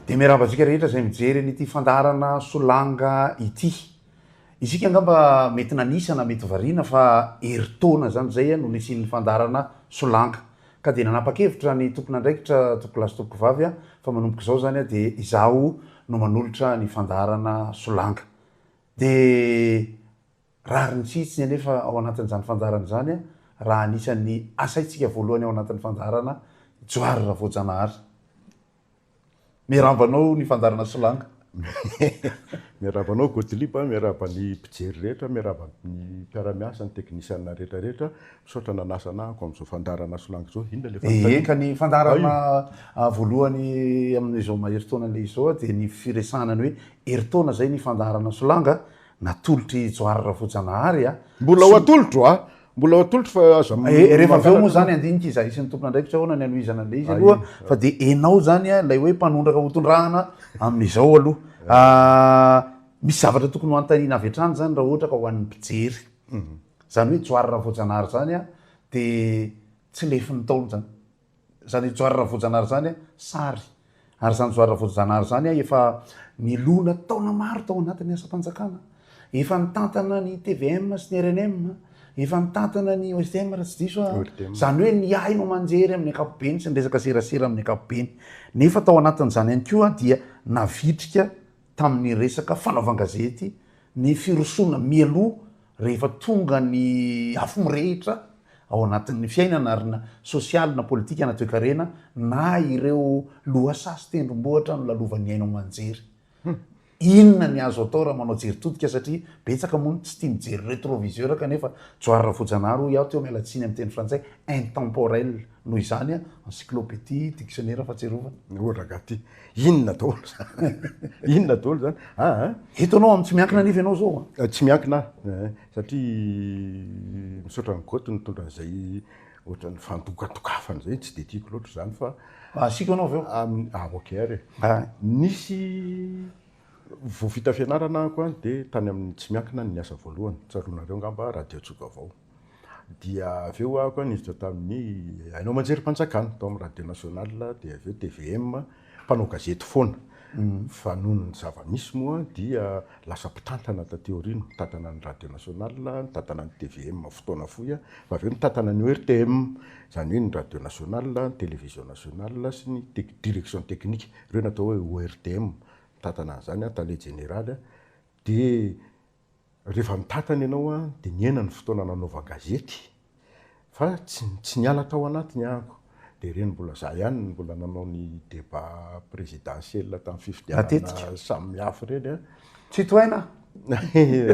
Dia miarahaba antsika rehetra izay mijery an'ity fandaharana solanga ity. Isika angamba mety nanisa na mety variana fa herintaona izany izay no nisian'ny fandaharana solanga. Ka dia nanapa-kevitra ny tompon'andraikitra tompokolahy sy tompokovavy fa manomboka izao izany dia izaho no manolotra ny fandaharana Solanga. Dia rariny tsy hitsiny anefa ao anatin'izany fandaharana izany raha anisan'ny asaintsika voalohany ao anatin'ny fandaharana Johary Ravoajanahary. Miarahaba anao ny fandaharana Solanga. Miarahaba anao Gottlieb, miarahaba ny mpijery rehetra, miarahaba ny mpiara-miasa, ny teknisianina rehetra rehetra. Misaotra nanasa anah hanko amin'izao fandaharana Solanga izao. Inona ilay fanontaniana? Eka, ny fandaharana voalohany amin'izao maherintaona an'ilay izao dia ny firesahana ny hoe herintaona izay ny fandaharana Solanga natolotr'i Johary Rafojanahary. Mbola ho atolotro a! Mbola atolotro fa aza m- Eh, rehefa avy eo moa mangalatra. zany andinika izy ahisy ny tompon'andraikitra ahoana ny hanohizana an'ilay izy aloha fa dia enao zany a, ilay hoe mpanondraka ho tondrahana amin'izao aloha Ah, misy zavatra tokony ho antanina avy hatrany zany raha ohatra ka ho an'ny mpijery zany hoe johary raha voajanahary zany a dia tsy lefin'ny ntaolo zany Zany Johary Ravojanary zany a sary ary zany Johary Ravojanary zany a efa nilona taona maro tao anatin'ny asam-panjakana, efa nitantana ny tvm sy ny rnm, efa nitantana ny OSDM raha tsy diso aho, zany hoe ny haino aman-jery amin'ny ankapobeny sy ny resaka serasera amin'ny ankapobeny, nefa tao anatin'izany ihany koa dia navitrika tamin'ny resaka fanaovan-gazety ny firosoana mialoha rehefa tonga ny afo mirehitra ao anatin'ny fiainana ary na sosialy na politika na toekarena na ireo lohasaha sy tendrombohitra nolalovan'ny haino aman-jery. Inona ny azo atao raha manao jery todika satria betsaka moa no tsy tia mijery retroviseur kanefa Johary Rafojanahary hoy aho teo miala tsiny amin'ny teny frantsay intemporel noho izany encyclopedie dictionnaire fahatsiarovana. Ohatra gaty. Inona daholo zany? Inona daholo zany? Ah, ah. Eto anao amin'ny tsy miankina nefa ianao zao. Ah. Eh, tsy miankina eh, satria misaotra ny goty nitondra an'izay ohatran'ny fandokatokafana izay tsy dia tiako loatra izany fa asiko anao avy eo ah ok ary ah. nisy vao vita fianarana ako a dia tany amin'ny tsy miankina ny asa voalohany tsaronareo ngamba radio tsogavao Dia avy eo aho koa niditra tamin'ny haino aman-jerim-panjakana, tao amin'ny Radio Nationale, dia avy eo tvm, mpanao gazety foana. Fa noho ny zava-misy moa dia lasa mpitantana taty aoriana, mitantana ny Radio Nationale, nitantana ny tvm fotoana fohy aho, fa avy eo nitantana ny ORTM, izany hoe ny Radio Nationale, ny Télévision Nationale sy ny tec, Direction Technique, ireo no atao hoe ORTM, nitantana an'izany aho, Tale Jeneraly aho. Dia Rehefa nitantana ianao dia nihena ny fotoana nanaovan-gazety fa tsy tsy niala tao anatiny ahako dia ireny mbola izaho ihany no mbola nanao ny débat présidentiel tamin'ny fifidianana samihafa ireny an! Citoyen an!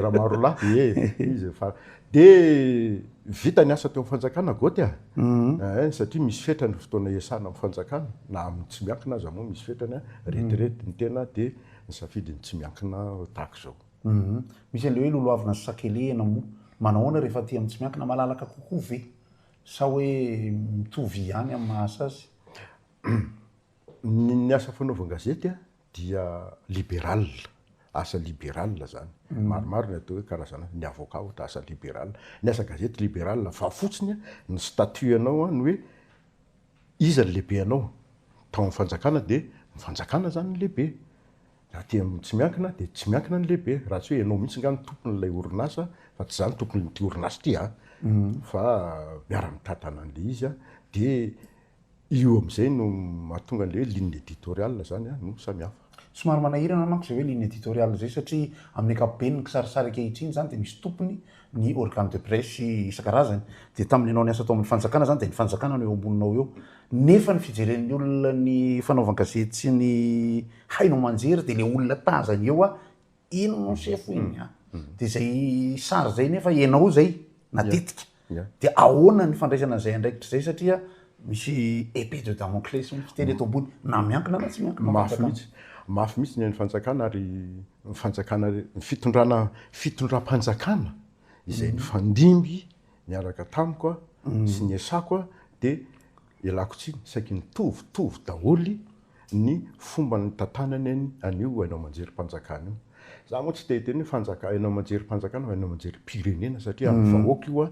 Ramarolahy ee! izy fa dia vita ny asa teo amin'ny fanjakana Goty an! ee! satria misy fetra ny fotoana hiasana amin'ny fanjakana na amin'ny tsy miankina aza moa misy fetrany an! retirety ny tena dia nisafidy ny tsy miankina tahaka izao. Humm misy an'le hoe lolohavina sy sakelehina moa manahoana rehefa aty amin'ny tsy miankina malalaka kokoa ve sa hoe mitovy ihany amin'ny maha sazy? Humm ny asa fanaovan-gazety a dia liberal, asa liberal zany, maromaro ny atao hoe karazana, ny avocat ohatra asa liberal, ny asa gazety liberal fa fotsiny a ny statut anao a ny hoe iza ny lehibe anao, tao amin'ny fanjakana dia ny fanjakana zany no lehibe. Aty amin'ny tsy miankina dia tsy miankina ny lehibe, raha tsy hoe ianao mihitsy nga no tompon'ilay orinasa fa tsy za no tompon'ity orinasa ity a! fa miara-mitatana an'ilay izy a! dia io amin'izay no mahatonga an'ilay hoe ligne editoriale zany a! no samy hafa. Somary manahirana manko izay hoe ligne editoriale izay satria amin'ny ankapobeny ny kisarisary ankehitriny izany dia misy tompony ny organe de presse isan-karazany dia tamin'ny nanao ny asa tao amin'ny fanjakana izany dia ny fanjakana no eo amboninao eo nefa ny fijeren'ny olona ny fanaovan-gazety sy ny haino aman-jery dia ilay olona tazany eo a iny no sefo iny a dia izay sary izay nefa ianao izay natetika dia ahoana ny fandraisana an'izay andraikitra izay satria Misy épée de Damoclès hoe fiteny eto ambony na miankina na tsy miankina amin'ny fanjakana. Mafy mihitsy, mafy mihitsy ny an'ny fanjakana ary ny fanjakana, ny fitondrana, fitondram-panjakana izay nifandimby niaraka tamiko sy ny ESACO dia ialako tsiny, saiky mitovitovy daholo ny fomba nitantanany any an'io haino aman-jerim-panjakana io. Za moa tsy te hiteny hoe fanjaka- haino aman-jerim-panjakana fa haino aman-jerim-pirenena satria an'ny vahoaka io an,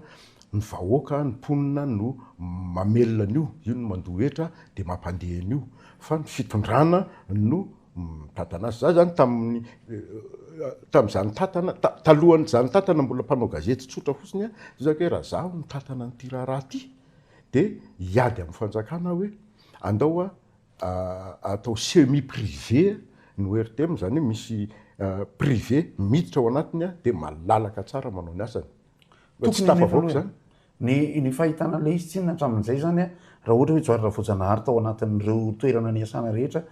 ny vahoaka, ny mponina no mamelona an'io, io no mandoa hetra dia mampandeha an'io fa ny fitondrana no mitantana azy. Za zany tamin'ny tamin'izaho nitantana, ta- talohan'izaho nitantana mbola mpanao gazety tsotra fotsiny an, zao zany ka hoe raha zaho mitantana an'ity raharaha ity dia hiady amin'ny fanjakana aho hoe andao an, atao semi privé no RTM izany hoe misy privé miditra ao anatiny dia malalaka tsara manao ny asany. Tokony tsy tafavoaka izany. Ny ny fahitana an'ilay izy tsinona hatramin'izay izany a, raha ohatra hoe Johary Ravoajanahary tao anatin'ireo toerana niasana rehetra,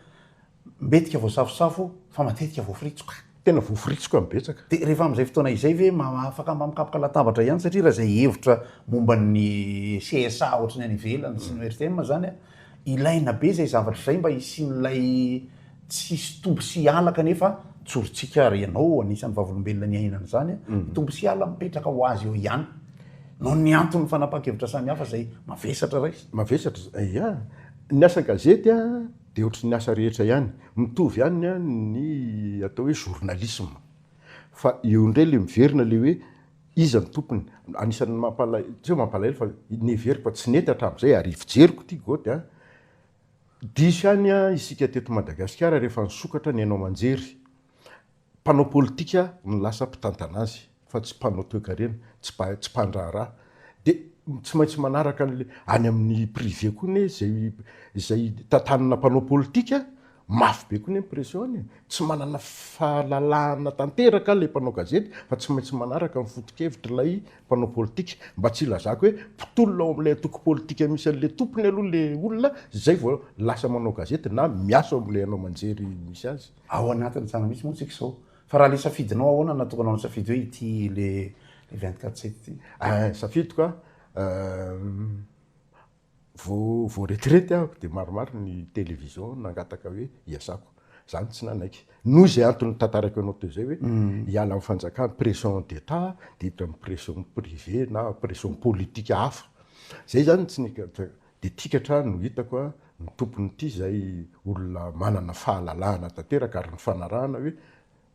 mbetika voasafosafo fa matetika voafiritsoka. Tena voaforitsoka ny betsaka. Dia rehefa amin'izay fotoana izay ve afaka mba mikapoka latabatra ihany satria raha izay hevitra momba ny CSA ohatry ny any ivelany sy ny RTM izany an, ilaina be izay zavatra izay mba hisian'ilay tsy hisy tombo sy hiala kanefa tsorintsika ary ianao anisan'ny vavolombelona niainana izany an, tombo sy hiala mipetraka ho azy eo ihany noho ny anton'ny fanapahan-kevitra samihafa izay mavesatra rais. Mavesatra izany, ya. Ny asan-gazety an. Dia ohatry ny asa rehetra ihany, mitovy ihany ny atao hoe journalisme. Fa eo indray ilay miverina ilay hoe iza no tompony. Anisan'ny mampalahelo, tsy hoe mampalahelo fa nevers-ko fa tsy nety hatramin'izay ary fijeriko ity Goty a. Diso ihany isika teto Madagasikara rehefa nisokatra ny haino aman-jery. Mpanao politika no lasa mpitantana azy fa tsy mpanao toekarena, tsy tsy mpandraharaha. Dia tsy maintsy manaraka an'ilay any amin'ny privé koa anie izay izay tantanana mpanao politika, mafy be koa anie ny pression any e! Tsy manana fahalalahana tanteraka ilay mpanao gazety fa tsy maintsy manaraka ny foto-kevitr'ilay mpanao politika. Mba tsy hilazako hoe mpitolona ao amin'ilay antoko politika misy an'ilay tompony aloha ilay olona izay vao lasa manao gazety na miasa ao amin'ilay haino aman-jery misy azy. Ao anatin'ny tsara mihitsy moa tsika izao. Fa raha le safidinao ahoana na tokony hanao safidy hoe ity le le 24 sept ity? Ah, safidiko ah, vao vao retraite aho dia maromaro ny télévision nangataka hoe hiasako. Za no tsy nanaiky. Noho izay antony notantarako anao teo izay hoe hiala amin'ny fanjakana, pression d'Etat dia hiditra amin'ny pression privée na pression politique hafa. Izay izany no tsy nihitako. Dia tika hatrany no hitako a, ny tompon'ity izay olona manana fahalalahana tanteraka ary nifanarahana hoe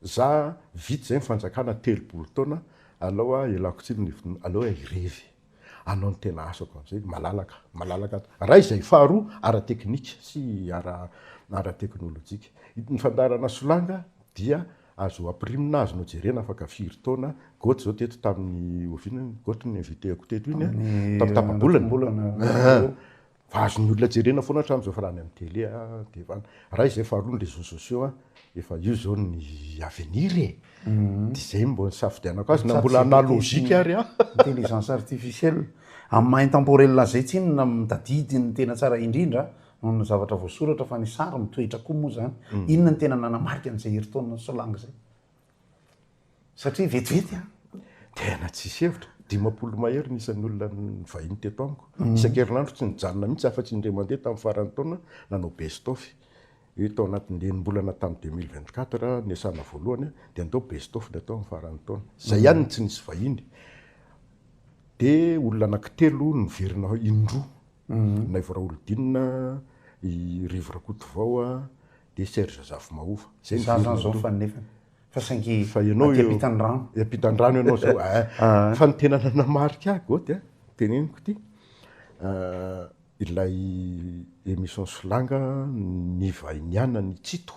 za vita izay ny fanjakana telopolo taona alao a ialako tsiny ny hevitnao aleo a hirevy anao ny tena asako amin'izay malalaka malalaka ray izay faharoa ara-teknika sy ara ara-teknolojika ny fandaharana solanga dia Azo ampirimina azo nojerena afaka firy taona, goty zao teto tamin'ny oviana iny goty ny inviteko teto iny an, tamin'ny tapabolana an, fa azon'ny olona jerena foana hatramin'izao fa raha any amin'ny tele dia efa any, raha izay faharoa ny réseaux sociaux an, efa io zao ny avenir e, dia izay no mba nisafidianako azy na mbola analogique ary an. Intelligence artificielle amin'ny maha intemporel an'izay tsinona mitadidy ny tena tsara indrindra an. Noho ny zavatra voasoratra fa ny sary mitoetra koa moa izany, inona no tena nanamarika an'izay herintaona nisolanga izay? Satria vetivety an! Tena tsisy hevitra. Dimampolo mahery ny isan'ny olona nivahiny teto amiko. Isan-kerinandro tsy nijanona mihitsy afa-tsy indray mandeha tamin'ny faran'ny taona nanao best of. Io tao anatin'ny enim-bolana tamin'ny deux mille vingt quatre niasana voalohany dia nandao best of dia tao amin'ny faran'ny taona. Izay ihany no tsy nisy vahiny. Dia olona anankitelo no niverina indroa Naivo Raholidinina, i Rivo Rakotovao a, dia Serge Zafimahova. Zay ny virina aloha. Za zany zao mifanina nefany. Fa saingy aty ampitan'ny rano. Ampitan'ny rano ianao zao a. Fa ny tena nanamarika ahy Gaody a, teneniko ity, ilay émission Solanga nivainianan'i Tsito.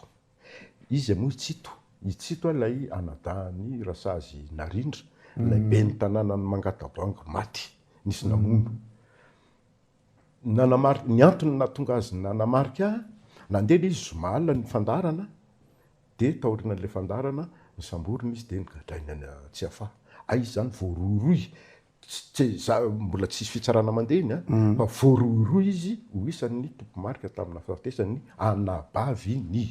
Iza moa i Tsito? I Tsito a ilay anadahin'i Rasazy Narindra, ilay ben'ny tanànan'i Mangatabango maty, nisy namono. Nanamarika, ny antony nahatonga azy nanamarika, nandeha ilay izy zoma alina ny fandaharana, dia taorian'ilay fandaharana, ny samborina izy dia nogadraina any Tsiafahy. Hay izany voarohirohy Tsy, za, mbola tsisy fitsarana mandeha iny an, fa voarohirohy izy ho isan'ny tompomarika tamin'ny nahafatesan'ny anabavy ny.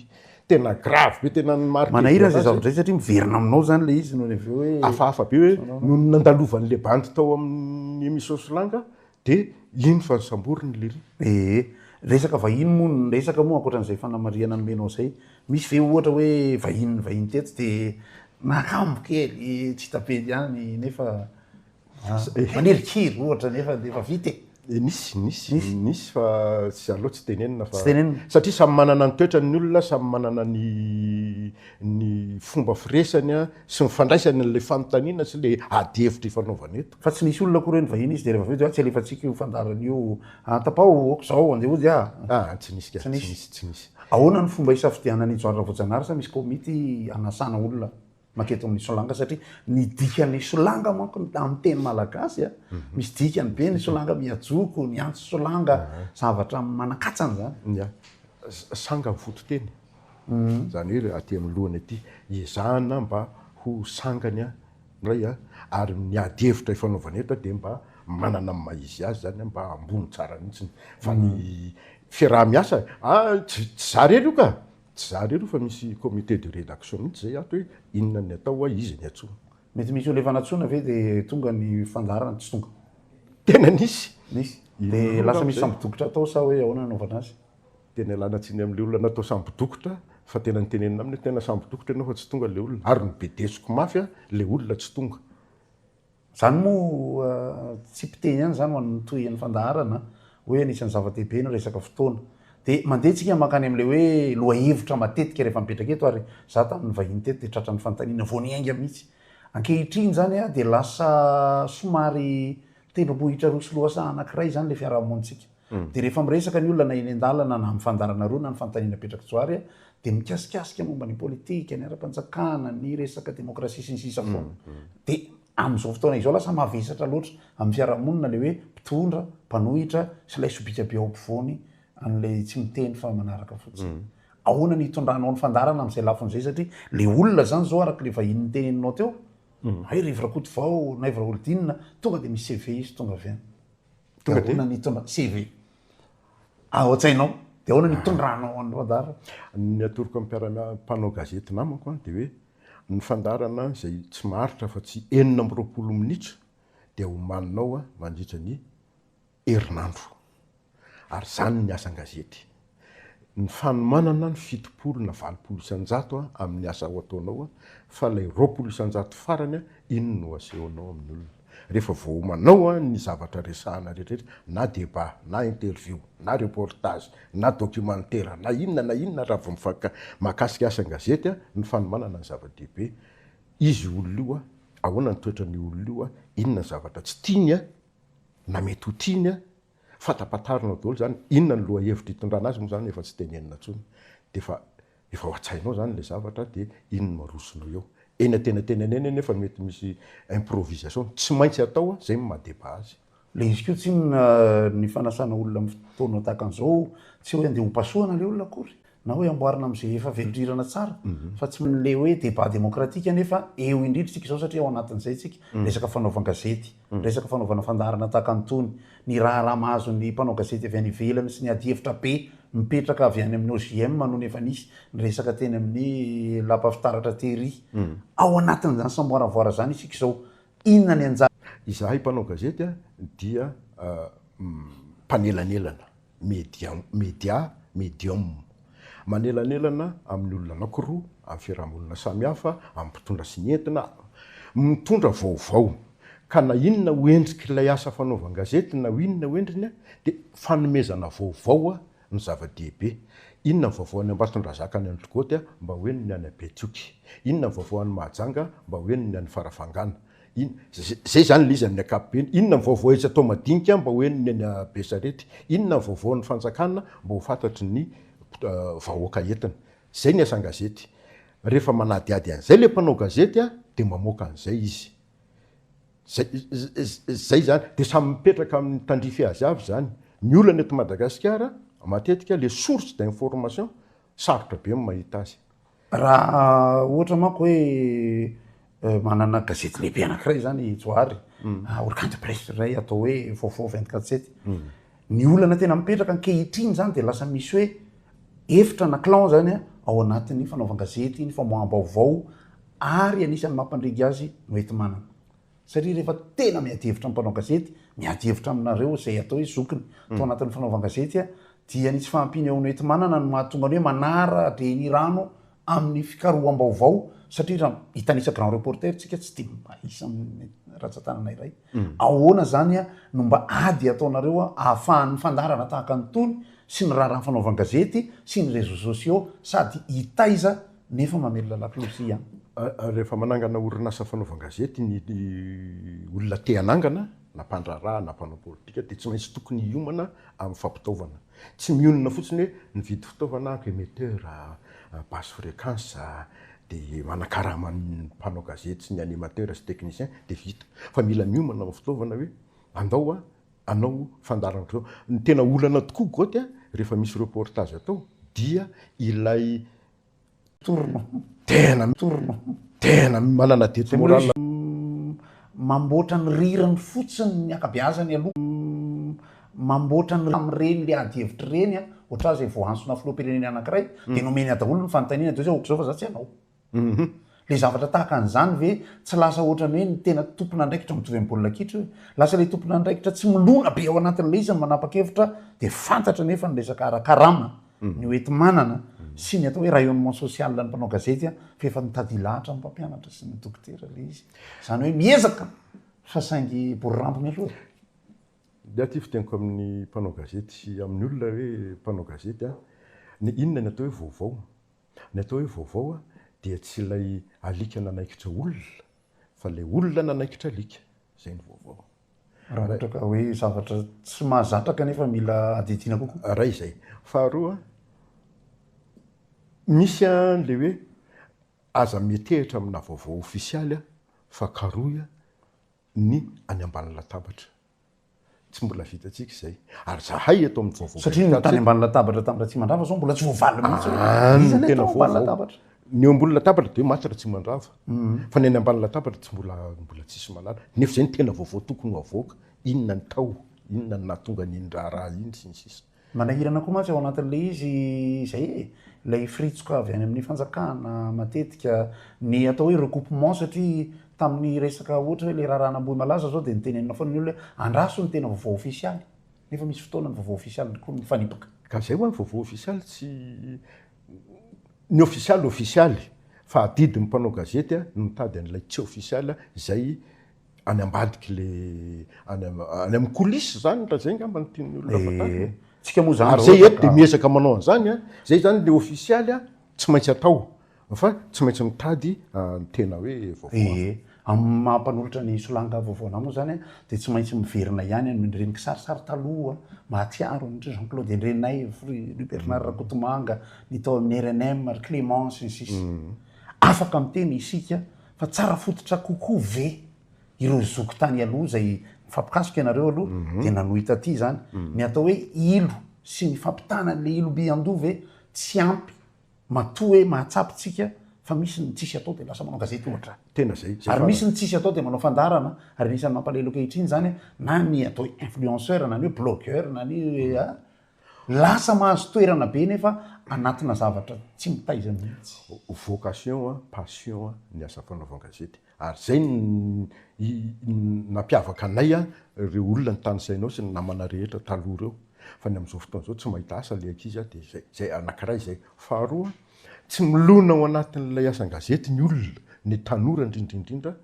Tena grave be, tena ny marque voalaza. Manahirana izay zavatra izay satria miverina aminao izany ilay izy nony avy eo hoe. Hafahafa be hoe nony nandalovan'ilay bandy tao amin'ny emission Solanga dia iny fa samboriny lery. Ee, resaka vahiny moa ny resaka moa ankoatran'izay fanamarihana nomenao izay Misy ve ohatra hoe vahiny nivahiny teto dia nakambo kely tsy hita be ihany nefa manirikiry ohatra nefa dia efa vita e? Eh, nisy, nisy, nisy fa tsy aleo tsy tenenina fa. Tsy tenenina. Satria samy manana ny toetrany ny olona, samy manana ny ny fomba firesany sy ny fandraisany an'ilay fanontaniana sy ilay adihevitra ifanaovana eto. Fa tsy nisy olona akory eny vahiny izy dia rehefa avy eo dia tsy alefantsika io fandaharana io an, tapao aok'izao andeha hody a! Ah, tsy nisy ka, tsy nisy, tsy nisy. Ahoana ny fomba hisafidianana i John Ravoajanahary sa misy komity hanasana olona manketo amin'ny solanga satria ny dikan'ny solanga manko ny amin'ny teny malagasy a, misy dikany be ny solanga, miha-joko, miantso solanga, zavatra manan-katsany izany. Ya, sanga ny fototeny, izany hoe aty amin'ny lohany aty, ezahana mba ho sangany an! Indray a, ary ny ady hevitra ifanaovana eto dia mba manana ny maha izy azy izany, mba ambony tsara mihitsy fa ny fiaraha-miasa a, tsy izaho irery io ka, tsy izaho irery io fa misy comité de rédaction mihitsy izay ato hoe inona ny atao hoa izy ny antsoina. Mety misy olona efa nantsoina ve dia tonga ny fandaharana tsy tonga? Tena nisy? Nisy. Dia lasa misy sambo-dokotra atao sa hoe ahoana no nanaovana azy? Tena ialana tsiny amin'ilay olona natao sambo dokotra fa tena nitenenina aminy hoe tena sambo dokotra ianao fa tsy tonga ilay olona ary nobedesiko mafy aho ilay olona tsy tonga. Izany moa tsy mpiteny ihany izany ho an'ny tohin'ny fandaharana hoe anisan'ny zava-dehibe ny resaka fotoana. Dia mandeha tsika mankany amin'ilay hoe lohahevitra matetika rehefa mipetraka eto ary izaho tamin'ny vahiny teto dia tratran'ny fanontaniana vao niainga mihitsy. Ankehitriny izany dia lasa somary tendrombohitra roa sy lohasaha anankiray izany ilay fiaraha-monintsika. Dia rehefa miresaka ny olona na eny an-dalana na amin'ny fandaharana roa na ny fanontaniana apetrak'i Johary dia mikasikasika momba ny politika, ny ara-panjakana, ny resaka demokrasia sy ny sisa foana. Dia amin'izao fotoana izao lasa mavesatra loatra amin'ny fiarahamonina ilay hoe mpitondra, mpanohitra sy ilay sobika be ao ampovoany an'ilay tsy miteny fa manaraka fotsiny. Ahoana ny hitondranao ny fandaharana amin'izay lafiny izay satria ilay olona izany izao araka ilay vahiny niteneninao teo, hay Rivo Rakotovao, Naivo Raholdina, tonga dia mi-CV izy tonga avy any. Tonga dia ahoana ny hitondra CV ao an-tsainao? Dia ahoana ny hitondranao an'i Radar? Ny atoroko amin'ny mpiara mpanao gazety namako dia hoe ny fandaharana izay tsy maharitra afa tsy enina amby roapolo minitra dia homaninao mandritra ny herinandro. Ary izany ny asan-gazety. ny fanomanana ny fitopolo na valopolo isan-jato amin'ny asa ho ataonao fa ilay roapolo isan-jato farany iny no asehonao amin'ny olona rehefa vao manao ny zavatra resahana rehetrarehetra na débat na interview na reportage na documentaire na inona na inona raha vao mifank mahakasika asa an-gazety ny fanomanana ny zava-dehibe izy olona io ahoana ny toetran'io olona io inona ny zavatra tsy tiany na mety ho tiany Fatapatarina daholo zany, inona ny lohahevitra itondrana azy moa zany efa tsy tenenina tsony de efa efa ao antsainao zany ilay zavatra de iny no arosonao eo. Eny antenantenany eny anefa mety misy improvisation, tsy maintsy atao an, zay no maha débat azy. Ilay izy koa tsinona ny fanasana olona amin'ny fotoana tahaka an'izao, tsy hoe andeha hopasohana ilay olona akory na hoe amboarina amin'izay efa velondrirana tsara fa tsy manle hoe débat démocratique nefa eo indrindra isika izao satria ao anatin'izay isika resaka fanaovan-gazety resaka fanaovana fandaharana tahaka an'itony ny raharaha mahazo ny mpanao gazety avy any ivelany sy ny adihevitra be mipetraka avy any amin'ny OJM no efa nisy ny resaka teny amin'ny lapa fitaratra tery ao anatin'izany samboaravoara izany isika izao inona ny anjara izahay mpanao gazety dia mpanelanelana medium, media, medium, manelanelana amin'ny olona anankiroa, amin'ny fiarahamonina samihafa, amin'ny mpitondra sy ny entina, mitondra vaovao. Ka na inona ho endrik'ilay asa fanaovan-gazety, na inona ho endriny, dia fanomezana vaovao no zava-dehibe. Inona ny vaovao any Ambatondrazaka any Antogôty, mba ho henony any Betioky. Inona ny vaovao any Mahajanga, mba ho henony any Farafangana. In, zay zany le izy amin'ny ankapobeny. Inona ny vaovao etsy atao madinika mba ho henon'ny any Besarety? Inona ny vaovao an'ny fanjakana mba ho fantatry ny vahoaka entiny? Zay ny asan'ny gazety. Rehefa manadihady an'izay le mpanao gazety a, de mamoaka an'izay izy. Zay, zay zany. De samy mipetraka amin'ny tandrify azy avy zany. Ny olana eto Madagasikara, matetika le source d'information Sarotra be ny mahita azy. Raha ohatra manko hoe manana gazety lehibe anankiray zany i Johary, Orkant Press zay atao hoe vaovao vingt quatre sept. Ny olana tena mipetraka ankehitriny zany dia lasa misy hoe efitra na clan zany ao anatin'ny fanaovan-gazety, ny famoaham-baovao ary anisan'ny mampandringa azy no enti-manana. Satria rehefa tena miady hevitra amin'ny mpanao gazety, miady hevitra aminareo izay atao hoe zokiny tao anatin'ny fanaovan-gazety, dia ny tsy fahampian'ny ao Noetimanana no mahatonga ny hoe manara-drenirano amin'ny fikaroham-baovao, satria raha hitanisa grand reporter tsika tsy dia mahisa amin'ny ratsan-tanana iray. Ahoana izany no mba ady ataonareo ahafahan'ny fandaharana tahaka an'itony sy ny raharaha fanaovan-gazety sy ny réseaux sociaux sady hitaiza nefa mamelona lakolosy an. Rehefa manangana orinasa fanaovan-gazety ny olona te hanangana, na mpandraharaha na mpanao politika, dia tsy maintsy tokony hiomana amin'ny fampitaovana. Tsy mionona fotsiny hoe mividy fitaovana aho, emetteur, basse fréquence, dia manakarama ny mpanao gazety sy ny animateur sy technicien, dia vita. Fa mila miomana amin'ny fitaovana hoe andao hanao fandaharan'ireo. Ny tena olana tokoa Goty a, rehefa misy reportage atao, dia ilay Mitorina. Tena mitorina. Tena manana dette morale. Mamboatra ny rirany fotsiny ny ankabeazany aloha. Mamboatra ny amin'ireny le ady hevitra ireny an, ohatran izay voahantsona filoham-pirenena anankiray dia nomeny daholo ny fanontaniana dia hoe zao ohatr'izao fa za tsy hanao. Ilay zavatra tahaka an'izany ve tsy lasa ohatran'ny hoe ny tena tompon'andraikitra mitovy amin'ny baolina kitra io e? Lasa ilay tompon'andraikitra tsy milona be ao anatin'ilay izy no manapa-kevitra dia fantatra anefa ny resaka ara-karama, ny hoenti-manana sy ny atao hoe rayonnement social ny mpanao gazety fa efa mitady hilahatra amin'ny mpampianatra sy ny dokotera ilay izy. Izany hoe miezaka fa saingy bory rambony aloha e! Ny ahy ity fiteniko amin'ny mpanao gazety sy amin'ny olona hoe mpanao gazety an, ny inona ny atao hoe vaovao? Ny atao hoe vaovao dia tsy ilay alika nanaikitra olona fa ilay olona nanaikitra alika, izay no vaovao. Raha ohatra ka hoe zavatra tsy mahazatra kanefa mila adidiana kokoa? Iray izay. Faharoa, misy an'ilay hoe aza mihetehitra amina vaovao ofisialy fa karohy ny any ambany latabatra. Tsy mbola vitantsika izay. Ary zahay eto amin'ny vaovao. Satria ny tany ambany latabatra tamin'ny Ratsimandrava zao mbola tsy voavaly mihitsy. Ah, ny tena vaovao. Ny eo ambony latabatra dia maty Ratsimandrava. Mm. Fa ny any ambany latabatra tsy mbola mbola tsisy malala. Nefa izay ny tena vaovao tokony ho avoaka. Inona ny tao? Inona ny nahatonga an'iny raharaha iny sy ny sisa. Manahirana koa mantsy ao anatin'ilay izy izay e, ilay firitsoka avy any amin'ny fanjakana matetika, ny atao hoe recoupement satria tamin'ny resaka ohatra hoe ilay raharaha an'Ambohimalaza izao dia nitenenina foana ny olona hoe andraso ny tena vaovao ofisialy nefa misy fotoana ny vaovao ofisialy koa mifanipaka. Ka izay ho'a ny vaovao ofisialy tsy ny ofisialy ofisialy fa adidin'ny mpanao gazety no mitady an'ilay tsy ofisialy izay any ambadiky le any any amin'ny coulisse izany raha izay angamba no tian'ny olona fantany. Eh, tsika moa zany. Ary zay eto dia miezaka manao an'izany a. Zay zany le ofisialy a, tsy maintsy atao fa tsy maintsy mitady ny tena hoe vaovao. Eh, amin'ny maha mpanolotra ny solanga vaovaonà moa zany a, dia tsy maintsy miverina ihany amin'ireny kisarisary taloha mahatsiaro an-dry Jean Claude Endrenaivo, ry ry Bernard Rakotomanga, ny tao amin'ny rnm, ry Clément sy ny sisa. Afaka miteny isika. Fa tsara fototra kokoa ve ireo zoky tany aloha izay, mifampikasoka ianareo aloha, dia nanohy taty izany? Ny atao hoe ilo sy ny fampitana an'ilay ilo by an-doha ve tsy ampy matoa hoe mahatsapa isika fa misy ny tsisy atao dia lasa manao gazety ohatra? Tena izay, izay Ary misy farany. ny tsisy atao dia manao fandaharana, ary anisan'ny mampalahelo ankehitriny izany na ny atao hoe influenceur na ny hoe blogueur na ny hoe a. Lasa mahazo toerana be nefa anatina zavatra tsy mitaiza mihitsy. Vocation a, passion a, ny asa fanaovan-gazety. Ary zay no nampiavaka anay a, reo olona nitanisainao sy ny namana rehetra taloha reo. Fa ny amizao fotoana zao tsy mahita asa le ankizy a, de zay. Zay, anakiray zay. Faharoa, tsy milona ao anatin'ilay asan-gazety ny olona, ny tanora indrindra indrindra.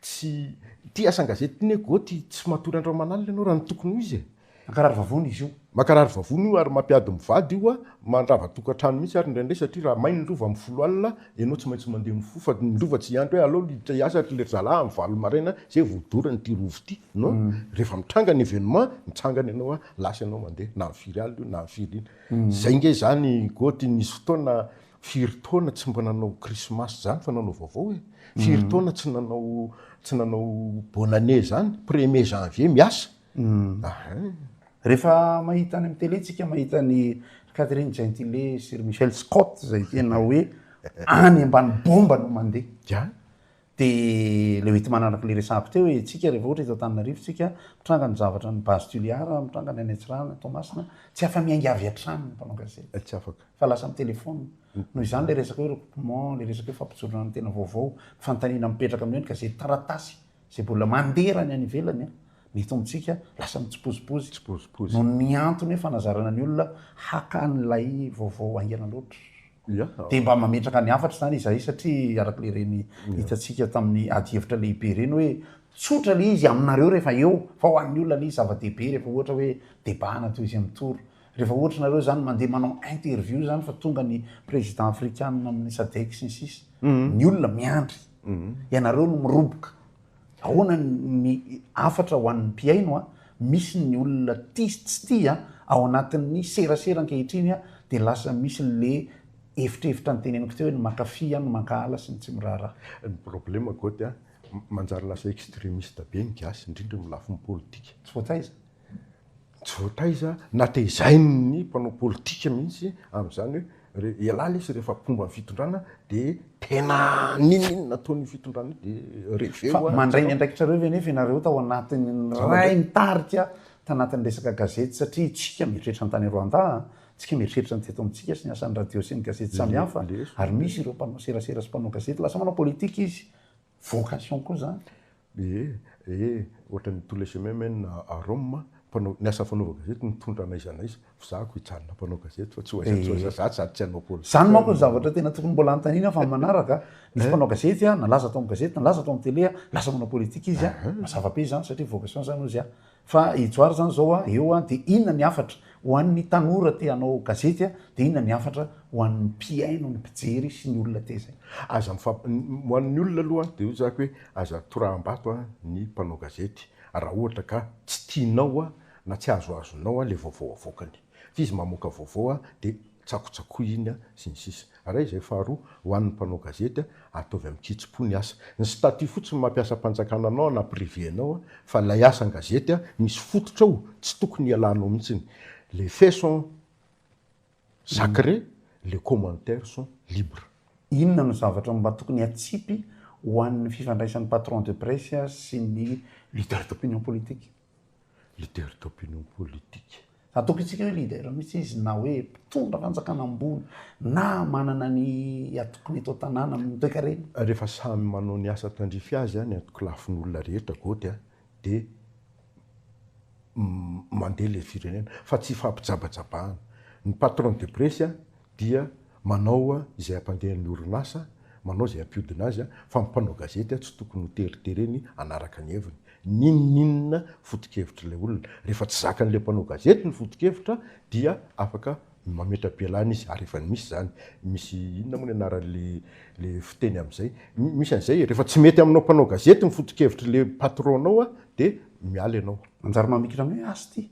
Tsy, ty asan-gazety ty ne goty tsy matory andro aman'alina enao raha ny tokony ho izy e. Mankarary vavony izy io. Mankarary vavony io ary mampiady mivady io a! Mandrava tokantrano mihitsy ary indraindray satria raha may ny lova amin'ny folo alina ianao tsy maintsy mandeha mifoha fa ny lova tsy hiandry hoe alao hiditra hiasa ry lery zalahy amin'ny valo maraina izay vao dorany ity rova ity no rehefa mitranga ny événement mitsangana ianao a! Lasa ianao mandeha na firy alina io na firy iny. Izay ange izany Goty nisy fotoana firy taona tsy mba nanao krismasy izany fa nanao vaovao e! Firy taona tsy nanao tsy nanao bonne année izany? Premier janvier miasa! Humm rehefa mahita any amin'ny télé tsika mahita an'i Catherine Gentile sy ry Michel Scott izay tena hoe any ambany bomba no mandeha de le hoe timanaraka le resahako teo hoe tsika rehefa ohatra eto Antananarivo tsika mitranga ny zavatra ny base Toliara mitranga ny any Antsirahana Toamasina tsy afa miainga avy hatrany ny mpanao gazety tsy afaka fa lasa amin'ny telephone noho izany le resaka hoe recoupement le resaka hoe fampijoroana ny tena vaovao fanontaniana mipetraka amin'io ny gazety taratasy Izay mbola mandera ny any ivelany ny eto amintsika lasa mitsipozipozy noho ny antony hoe fanazarana ny olona haka an'ilay vaovao haingana loatra. Dia mba mametraka ny hafatra izany izahay satria araka ilay ireny hitantsika tamin'ny adihevitra lehibe ireny hoe tsotra ilay izy aminareo rehefa eo fa ho an'ny olona anie izy zava-dehibe rehefa ohatra hoe debana toy izy amin'ny tour rehefa ohatra nareo izany mandeha manao interview izany fa tonga ny président afrikanina amin'ny sadec sy ny sisa ny olona miandry Ianareo no miroboka. Ahoana ny hafatra ho an'ny mpihaino? Misy ny olona tia sy tsy tia. Ao anatin'ny serasera ankehitriny dia lasa misy le efitrefitra niteneniko teo hoe ny mankafy, ny mankahala sy ny tsy miraharaha. Ny problema Goty a, manjary lasa extremiste be ny gasy, indrindra amin'ny lafiny politika. Tsy voataiza. Tsy voataiza na tehizain'ny mpanao politika mihitsy amin'izany hoe ialahy lesy rehefa mpomba ny fitondrana dia tena ninoninona ataon'io fitondrana io dia reveo a. Fa mandray ny andraikitrareo ve anefa ianareo tao anatin'ny niray ny tarika tanatin'ny resaka gazety satria isika mieritreritra ny tany Rwanda a, isika mieritreritra ny teto amintsika sy ny asan'ny radio sy ny gazety samihafa ary misy ireo mpanao serasera sy mpanao gazety lasa manao politika izy. vocation koa zany. Ee, ee, ohatran'ny tous les chemins mènent à Rome, mpanao, ny asa fanaova gazety mitondra an'aiza n'aiza, fizahako hijanona mpanao gazety fa tsy ho aiza tsy ho aiza za sady tsy hanao politika. Zany manko ny zavatra tena tokony mbola hanontaniana fa ny manaraka, misy mpanao gazety a, nalaza tao amin'ny gazety, nalaza tao amin'ny tele a, lasa manao politika izy a, mazava be izany satria vocation zany ozy a, Fa i Johary zany zao a eo a de inona ny hafatra ho an'ny tanora te hanao gazety a de inona ny hafatra ho an'ny mpihaino ny mpijery sy ny olona te zay. Aza mifamp ho an'ny olona aloha de hoy zako hoe aza torahambato a ny mpanao gazety raha ohatra ka tsy tianao a na tsy azoazonao a le vaovao avoakany f'izy mamoaka vaovao a de tsakotsakoina, sy ny sisa Ary izay faharoa, ho an'ny mpanao gazety, ataovy amin-kitsim-po ny asa. Ny statut fotsiny no mampiasam-panjakana anao na privé anao fa ilay asa an-gazety misy fototra ao tsy tokony hialanao mihitsiny. Les faits sont sacrés, les commentaires sont libres. Inona no zavatra mba tokony hatsipy ho an'ny fifandraisan'ny patron de presse sy ny leader d'opinion politique? leader d'opinion politique. Atokintsika hoe leader mihitsy izy na hoe mpitondra fanjakana ambony na manana ny atokiny eto an-tanàna amin'ny toekarena. Rehefa samy manao ny asa tandrify azy ny antoko lafin'olona rehetra goty dia mandeha ilay firenena fa tsy ifampijabajabahana. Ny patron de presse dia. Manao izay hampandeha ny orinasa, manao izay hampiodina azy, fa ny mpanao gazety tsy tokony ho teritereny hanaraka ny heviny. N'inon'inona fotokevitr'ilay olona, rehefa tsy zakan'ilay mpanao gazety ny fotokevitra dia afaka mametra-pialana izy, ary efa misy izany. Misy inona moa ny anaran'ilay fiteny amin'izay? Misy an'izay e, rehefa tsy mety aminao mpanao gazety ny fotokevitr'ilay patron-nao dia miala ianao. Manjary mamikirana hoe, Asty!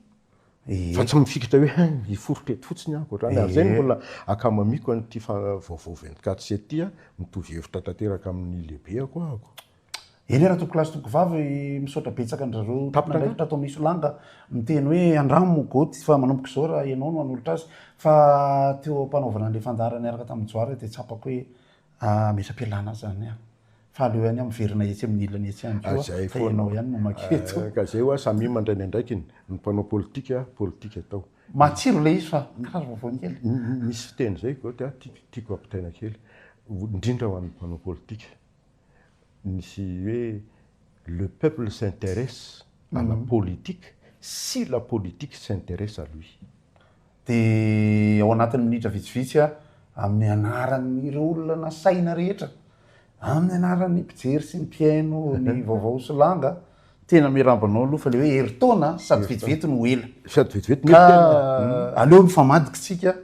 Fa tsy mifikitra hoe hein hiforitra eto fotsiny aho ankoatr'izany. Ary izay no mbola akamamiko an'ity vaovao vingt quatre sept ity an, mitovy hevitra tanteraka amin'ny lehibeako ahako. Eny ra tompokolahy sy tompokovavy, misaotra betsaka andrareo tompon'andraikitra ato Misolanga miteny hoe andramo Goty fa manomboka izao ra ianao no hanolotra azy fa teo ampanaovana an'ilay fandaharana niaraka tamin'i Johary dia tsapako hoe Ametra-pialana zany an! Fa aleo ihany aho miverina etsy amin'ny ilany etsy ihany koa fa ianao ihany no maka eto. Ka izay hoa samia mandray ny andraikiny, ny mpanao politika, politika atao. Matsiro ilay izy fa karazana vaovao kely. Misy fiteny izay Goty a, tiako ampitaina kely, indrindra ho an'ny mpanao politika. Misy hoe le peuple s'interesse à la politique si la politique s'interesse à lui. dia ao anatin'ny minitra vitsivitsy aho amin'ny anaran'ireo olona nasaina rehetra, amin'ny anaran'ny mpijery sy ny mpihaino ny vaovao sy langa, tena miarahaba anao aloha fa ilay hoe herintaona sady vetivety no ela. Sady vetivety no ela. Hmm. Aleo mifamadika tsika.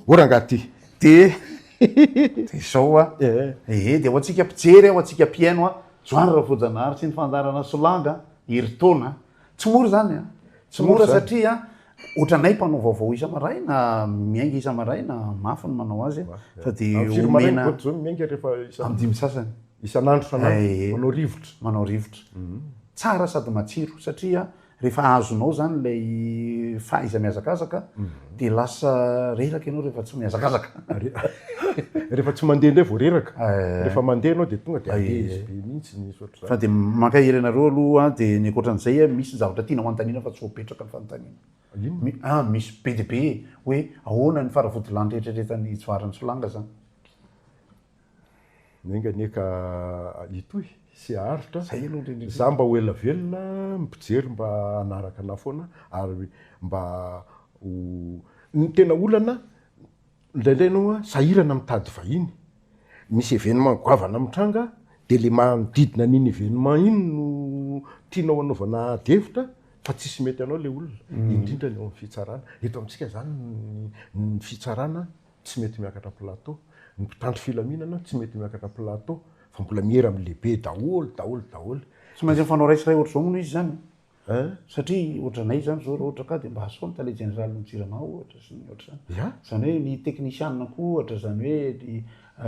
O rangaha ty. Dia dia izao a. Eh. Ehe, dia ho antsika mpijery, ho antsika mpihaino a. Joany Ravoajanahary sy ny fandaharana Solanga, herintaona. Tsy mora izany a. Tsy mora satria ohatranay mpanao vaovao isa-maraina, miainga isa-maraina, mafy ny manao azy fa dia omena amin'ny dimy sasany. Isan'andro, isan'andro, manao rivotra. Manao rivotra. Tsara sady matsiro satria rehefa azonao izany ilay fahaiza-mihazakazaka, Dia lasa reraka ianao rehefa tsy mihazakazaka. Rehefa tsy mandeha indray vao reraka. Eh. Rehefa mandeha ianao dia tonga dia ah, eh. izy be mihitsy ny ohatr'izany. Fa dia mankahery anareo aloha dia ny ankoatran'izay eh, misy zavatra tianao hanontaniana fa tsy voapetraka ny fanontaniana. Inona? Ah, misy be dia be hoe ahoana ny faravodilanitra eritreretan'i Jvara Nsolanga izany. Enga anie ka hitohy sy haharitra. Za mba ho ela velona ny mpijery mba hanaraka anah foana ary mba ho Ny tena olana indraindray enao a sahirana mitady vahiny, misy événement goavana mitranga de le manodidina an'iny événement iny no tianao hanaovana ady hevitra fa tsisy mety anao le olona, indrindra ny ao amin'ny fitsarana. Eto amintsika zany ny fitsarana tsy mety miakatra plateau, ny mpitandro filaminana tsy mety miakatra plateau fa mbola miera amin'ny lehibe daholo daholo daholo. Tsy maintsy mifanao ray sy ray ohatr'izao moa izy izany a! satria ohatranay izany izao raha ohatra ka dia mba asao ny tale jeneraly ny jirama ohatra sy ny ohatr'izany, izany hoe ny teknisiana koa ohatra, izany hoe ny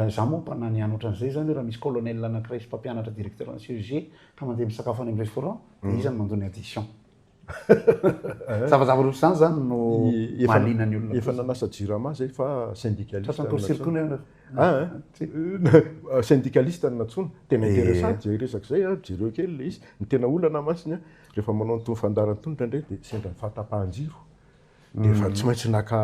izaho moa mba na ny any ohatran'izay izany hoe raha misy colonel anankiray sy mpampianatra directeur-na CEG ka mandeha misakafo any amin'ny restaurant dia iza no mandoa ny addition? Zavazava roa izany zany no mahaliana ny olona. Efa nanasa jirama zay fa syndicaliste. Tratran'ny torisily koa ny anao. Ah, syndicaliste no nantsoina. Tena interessant zay resaka zay a, jereo kely le izy. Ny tena olana masina rehefa manao an'itony fandaharan'ny tony indraindray dia sendra ny fahatapahan-jiro. Efa tsy maintsy naka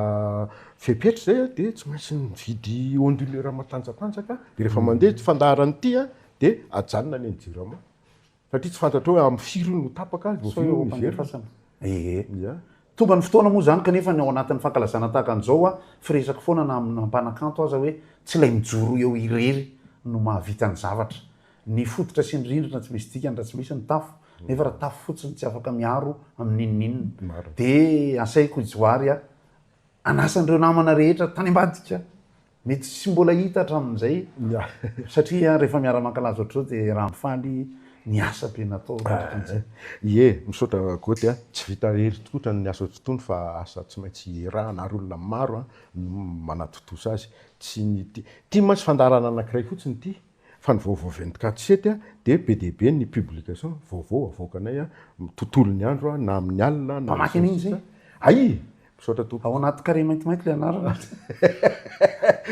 fepetra zay a, dia tsy maintsy nividy onduleur matanjatanjaka, dia rehefa mandeha fandaharan'ity a, dia ajanona ny an'i jirama. Satria tsy fantatrao hoe amin'ny firy no tapaka, vao vita ny hiverina. Ee. Tonga ny fotoana moa izany kanefa ny ao anatin'ny fankalazana tahaka an'izao aho firesaka foana na amina mpanakanto aza hoe tsy ilay mijoro eo irery no mahavita ny zavatra. Ny fototra sy ny rindrina tsy misy dikany raha tsy misy ny tafo, nefa raha tafo fotsiny tsy afaka miaro amin'inon'inona. Dia asaiko i Johary hanasa an'ireo namana rehetra tany ambadika Mety tsy mbola hita hatramin'izay satria rehefa miara-mankalaza ohatr'izao dia raha mifaly ny asa be natao raha ohatry an'izay. Ie, misaotra Goty a! Tsy vita ery tkotra ny asa otrtony fa asa tsy maintsy iarahana ary olona maro no manatontosa azy. Tsy ny ity. Ity mantsy fandaharana anankiray fotsiny ity. Fa ny vaovao vingt quatre sept a dia be dia be ny publication vaovao avoakanay a tontolo ny andro a na amin'ny alina na Mpamaky an'iny izay? Aii! Misaotra tompoko. Ao anaty carré maintimainty ilay anarana.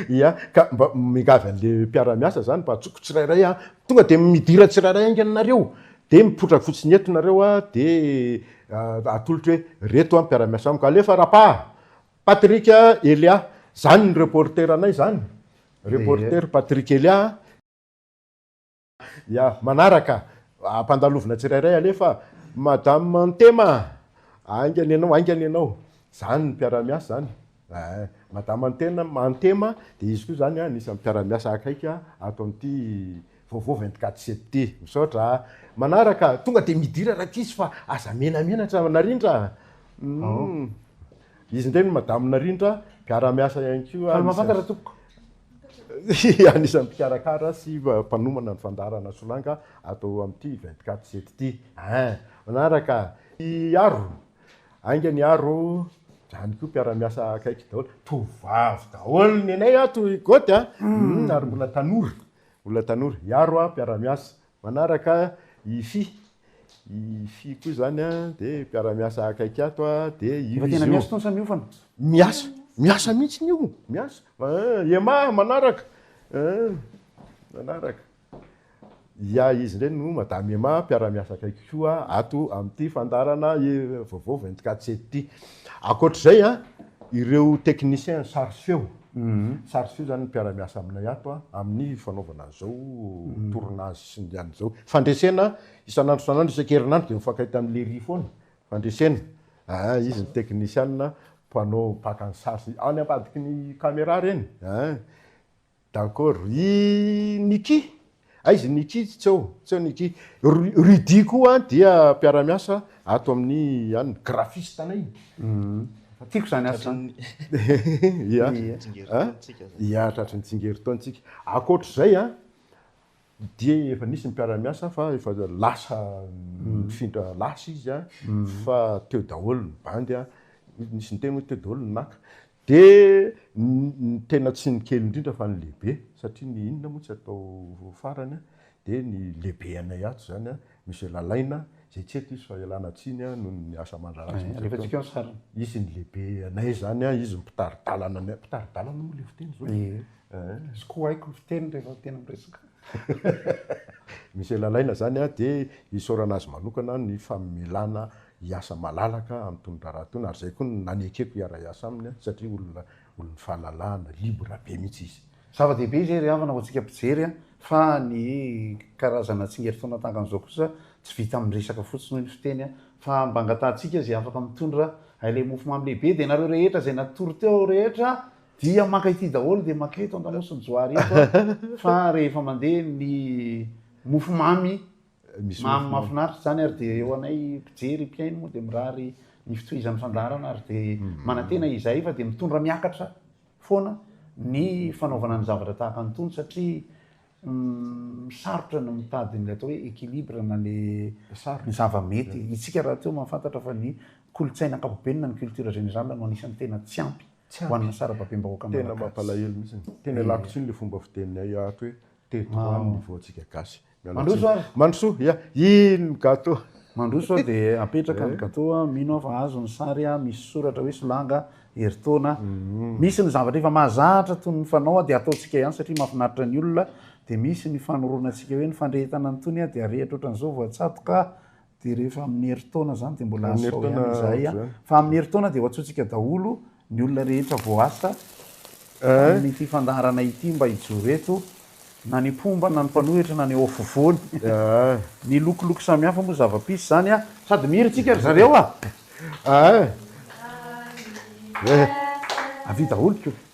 Ia, ka mba miangavy an'le mpiara-miasa zany mba atsoko tsirairay a, tonga dia midira tsirairay haingana nareo, dia mipoitra fotsiny eto nareo a, dia atolotra hoe reto a mpiara-miasa amiko, alefa Rapa a! Patrick Elia, zany ny reporter anay zany, reporter Patrick Elia a. Ya, manaraka, ampandalovina tsirairay alefa, madame Ntema a, haingana ianao, haingana ianao, zany ny mpiara-miasa zany eh, madame Ntema, dia izy koa zany anisan'ny mpiara-miasa akaiky ato amin'ity. Vaovao vingt quatre sept. Misaotra a. Manaraka, tonga dia midira Rakizy fa aza menamenatra Narindra a. Humm. Izy indray no Madame Narindra, mpiara-miasa ihany koa. Faly mafantatra tompoko. Anisan'ny mpikarakara sy mpanomana ny fandaharana Solanga ato amin'ity vingt quatre sept ity. Hein. Manaraka. I Aro. Haingana i Aro. Zany koa mpiara-miasa akaiky daholo. Tovovavy daholo ny anay ato i Goty a. Humm. Ary mbola tanora. Olona tanora, hiaro aho, mpiara-miasa. Manaraka i Fy, i Fy koa izany a, dia mpiara-miasa akaiky ato a, dia io izy io. Efa tena miasa itony sa miofana? Miasa, miasa mihitsy ny io, miasa. Aa Emma manaraka, aa manaraka. Ia izy indray no Madame Emma, mpiara-miasa akaiky koa ato amin'ity fandaharana vaovao vingt-quatre sept ity. Ankoatra izay an, ireo techniciens sary sy feo, sary sy feo izany ny mpiara-miasa aminay ato an, amin'ny fanaovana izao tournage sy ny an'izao. Fandresena isan'andro isan'andro, isaka herinandro dia mifankahita amin'i Léry foana, fandresena. Aa, izy ny technician mpanao mpaka ny sary sy, any ambadiky ny camera ireny. Aa. D'accord. I Nicky? Aiza i Nicky? Tsy eo, tsy eo Nicky. Rudy koa dia mpiara-miasa ato amin'ny an, graphiste anay. Fa tiako izany asa izany. Ia. Ia, tratry ny tsingerin-taontsika. Ankoatr'izay an, dia efa nisy ny mpiara-miasa fa efa lasa nifindra lasa izy an, fa teo daholo ny bandy an, nisy niteny hoe teo daholo ny naka. Dia ny tena tsy ny kely indrindra fa ny lehibe satria ny inona moa tsy atao farany a! dia ny lehibe anay ato izany a, Monsieur Lalaina, izay tsy eto izy fa ialana tsiny a, noho ny asa aman-draharaha sy ny sisa ataony, izy ny lehibe anay izany a, izy no mpitari-dalana anay, mpitari-dalana moa ilay fiteny izao e! Tsy ko haiko ny fiteny rehefa tena miresaka. Monsieur Lalaina izany a, dia isaorana azy manokana ny famelana hiasa malalaka amin'ny tony raharaha tony ary izay koa no nanekeko hiara-hiasa aminy satria olona olon'ny fahalalahana, libre be mihitsy izy. Zava-dehibe izay ry havana ho antsika mpijery an, fa ny karazana tsingerintaona tankan'izao kosa tsy vita amin'ny resaka fotsiny hoy ny fiteny an, fa mba angatahantsika izay afaka mitondra ilay mofomamy lehibe dia nareo rehetra izay natory teo aho rehetra dia maka ity daholo dia maka eto Andamosin'i Johary eto an, fa rehefa mandeha ny mofomamy Mamy mahafinaritra izany ary dia eo anay mpijery, mpihaino moa dia mirary ny fitohizan'ny fandaharana ary dia manantena izahay fa dia mitondra miakatra foana ny fanaovana ny zavatra tahaka an'itony satria sarotra ny mitady ny atao hoe équilibre na ilay ny zava-mety. Isika rahateo mahafantatra fa ny kolontsaina ankapobeny na ny culture générale no anisan'ny tena tsy ampy ho an'ny sarababem-bahoaka malagasy. Tena mampalahelo mihitsy. Tena ialako tsiny ilay fomba fiteninay ato hoe teto ihany ny voantsika gasy. Mandroso ary. Mandroso, ya, iny ny gateau. Mandroso a, dia apetraka ny gateau a, mino aho fa azo ny sary a, misy soratra hoe Solanga, herintaona, misy ny zavatra efa mahazatra toy ny fanao a, dia ataontsika ihany satria mahafinaritra ny olona, dia misy ny fanoroana antsika hoe ny fandrehetana an'itony a, dia arehitra ohatran'izao voatsatoka a, Dia rehefa amin'ny herintaona izany dia mbola Amin'ny asao herintaona ihany izahay. a. ohatr'izany. Fa amin'ny herintaona dia ho antsointsika daholo ny olona rehetra voaasa Eh? tamin'ity fandaharana ity mba hijoro eto, na ny mpomba, na ny mpanohitra, na ny eo afovoany. Ah. Ny lokoloko samihafa moa zava-pisy izany a. Sady mihira isika ry zareo a! Ah. Eh. Avia daholo ko.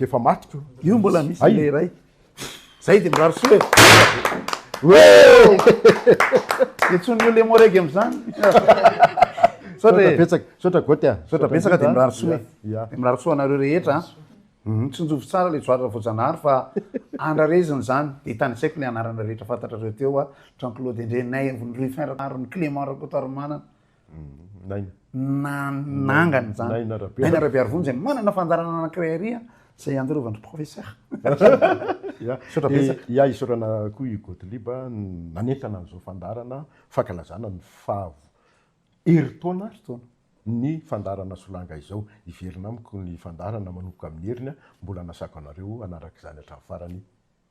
Efa maty ko. Io mbola misy Ay. ilay iray. Zay dia mirary soa e. Dia tsy ny lemo rege amin'izany. Misaotra e. Betsaka, misaotra Goty a. Misaotra betsaka dia mirary soa e. Ya. Dia mirary soa anareo rehetra a. Mhm. Tsinjovy tsara ilay Joara Voajanahary fa andrarezina izany. Dia tany an-tsaiko ilay anarana rehetra fantatrareo teo a. Jean Claude Endrenay, Avonoroy Fin Rakoto, Clément Rakotoarimanana, nanangana izany. Naina Rabearivony izay manana fandaharana anankiray ary izay ianjorovan-dry Professeur. Misaotra betsaka. Dia isaorana koa i Gottlieb nanentana an'izao fandaharana fankalazana ny faha herintaona ny fandaharana Solanga izao. Hiverina amiko ny fandaharana manomboka amin'ny heriny. Mbola anasako anareo hanaraka izany hatramin'ny farany.